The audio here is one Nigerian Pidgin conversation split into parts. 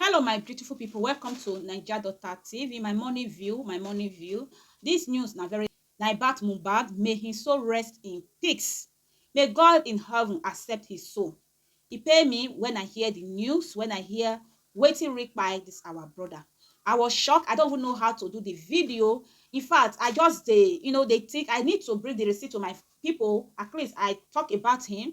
Hello my beautiful people, welcome to Naija Daughter TV, my morning view, my morning view. This news na very na about Mohbad, may him soul rest in peace. May God in heaven accept his soul. E pain me when I hear the news, when I hear wetin reach by this our brother. I was shocked. I don't even know how to do the video. In fact, I just dey, you know, they think I need to bring the receipt to my people. At least I talk about him.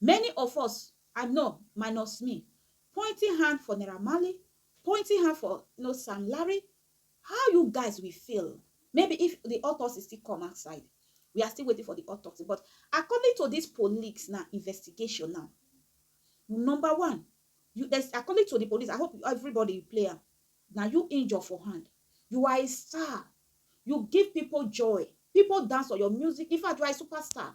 Many of us I know minus me pointing hand for Naira Marley, pointing hand for no Sam Larry, how you guys will feel maybe if the autopsy still come outside we are still waiting for the autopsy but according to this police na investigation now number one you there's according to the police I hope everybody you play am na you injure for hand you are a star you give people joy people dance for your music in fact you are a superstar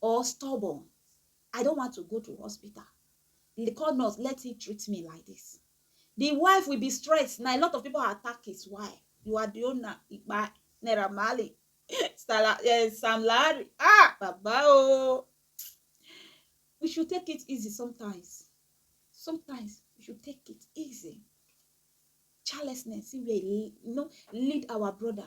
or stubborn i don't want to go to hospital the call nurse let him treat me like this the wife will be stressed now a lot of people are attack his wife you are the owner ipa naira mali eh, sam larry ah baba oh we should take it easy sometimes sometimes we should take it easy childlessness wey you know lead our brother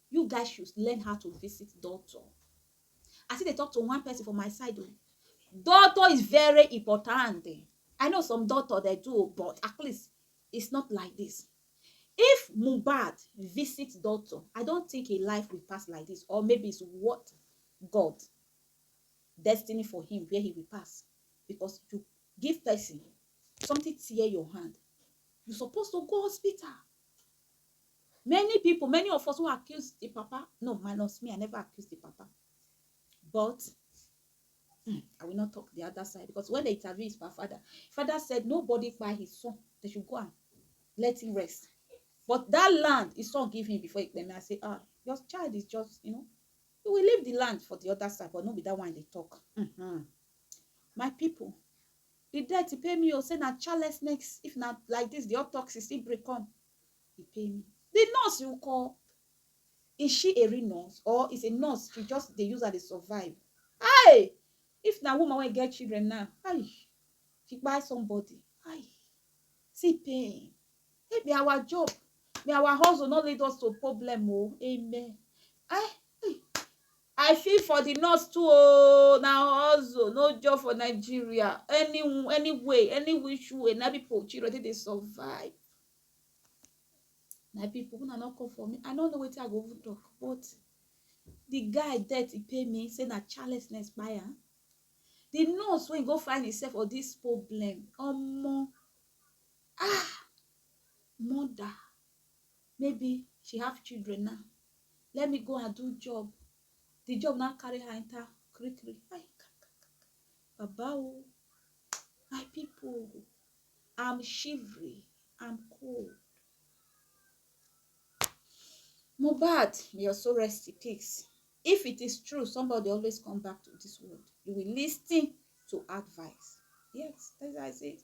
You guys should learn how to visit doctor. I still dey talk to one person for my side o. Oh. Doctor is very important. I know some doctor dey do, oh, but at least it's not like this. If Mubad visits doctor, I don't think a life will pass like this, or maybe it's what God destiny for him where he will pass. Because you give person something tear your hand, you supposed to go hospital Many pipu, many of us who accuse di papa, no minus me I never accuse di papa but um I will not talk di other side because when dem interview his pa father, father said nobody kpai his son, they should go and let him rest. But that land his son give him before he kpai me, I say ah your child is just you know he will leave di land for di other side but no be that one I dey talk. um My pipu, di debt e pay me o, say na carelessness if na like dis di autopsy still bring come, He pay me. The nurse you call, is she a real nurse or is a nurse she just dey use her dey survive? Hi! If na woman wey get children now, hi! She buy somebody, hi! See pain. Hey, may our job, may our hustle not lead us to problem, oh, amen. Eh, hey, I feel for the nurse too oh, na hustle, no job for Nigeria. Any any way, any which way, na people children take dey survive. My people, una no come for me. I no know wetin I go even talk, but the guy death e pay me say na childlessness kpai am. The nurse wey go find himself for this problem, omo, ah, mother. maybe she have children now let me go and do job the job now carry her enter kirikiri ai baba o my people i'm shivering i'm cold Mohbad may your soul rest in peace if it is true somebody always come back to this world you will listen to advice yes that's how I say it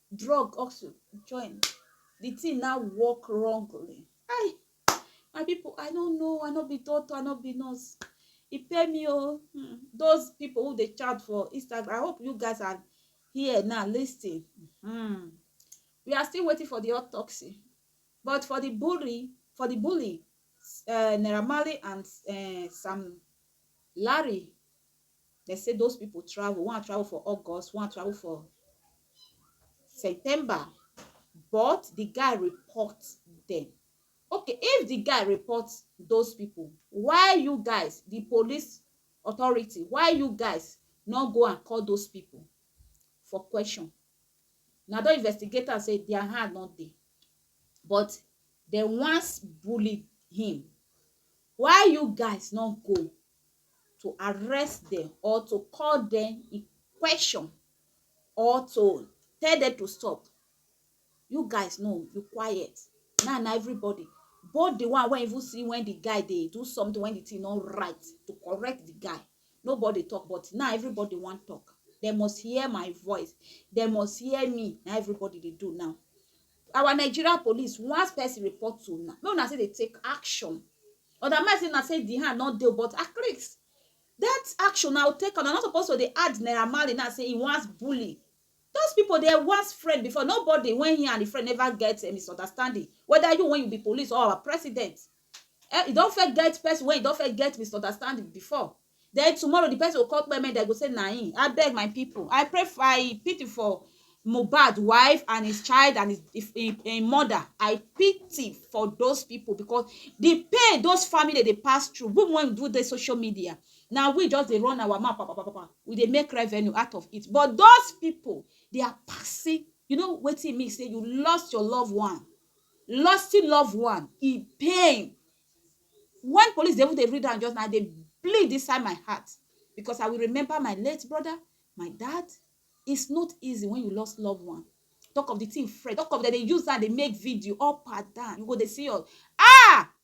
drug also join the thing now work wrongly ai my people i no know i no be doctor i no be nurse e pay me o oh. hmm. those people who dey chat for instagram i hope you guys are here now listening hmm. we are still waiting for the autopsy but for the bully for the bully uh, Naira Marley and uh, Sam Larry Dem say those pipo travel, one travel for August, one travel for September but di guy report dem. Ok if di guy report those pipo, why you guys, di police authority, why you guys nor go and call those pipo for question? Una don investigate am say dia hand nor dey but dem wan bully him, why you guys nor go to arrest dem or to call dem in question or to tell dem to stop you guys no you quiet now na everybody both the one wey even see when the guy dey do something when the thing no right to correct the guy nobody talk but now everybody wan talk they must hear my voice they must hear me na everybody dey do now Our Nigeria police once person report to una make una say dey take action other man say na say the hand no dey but at least that action na take am na not supposed to dey add naira marley now say he wants bully those people dey once friend before nobody when he and the friend never get a misunderstanding whether you when you be police or our president um e don first get person wey e don first get misunderstanding before then tomorrow the person go come kpeme dem go say na him abeg my people I pray for I pity for Mohbad wife and his child and his him him mother I pity for those people because the pain those family dey pass through we when we do dey social media na we just dey run our mouth papapapa we dey make revenue out of it but those people they are passing you know wetin e mean say you lost your loved one Losing love one e pain wen police dey even dey read am just now I dey bleed inside my heart because I will remember my late brother, my dad it's not easy when you lost love one talk of the thing fresh talk of dem dey use am dey make video up and down you go dey see your ah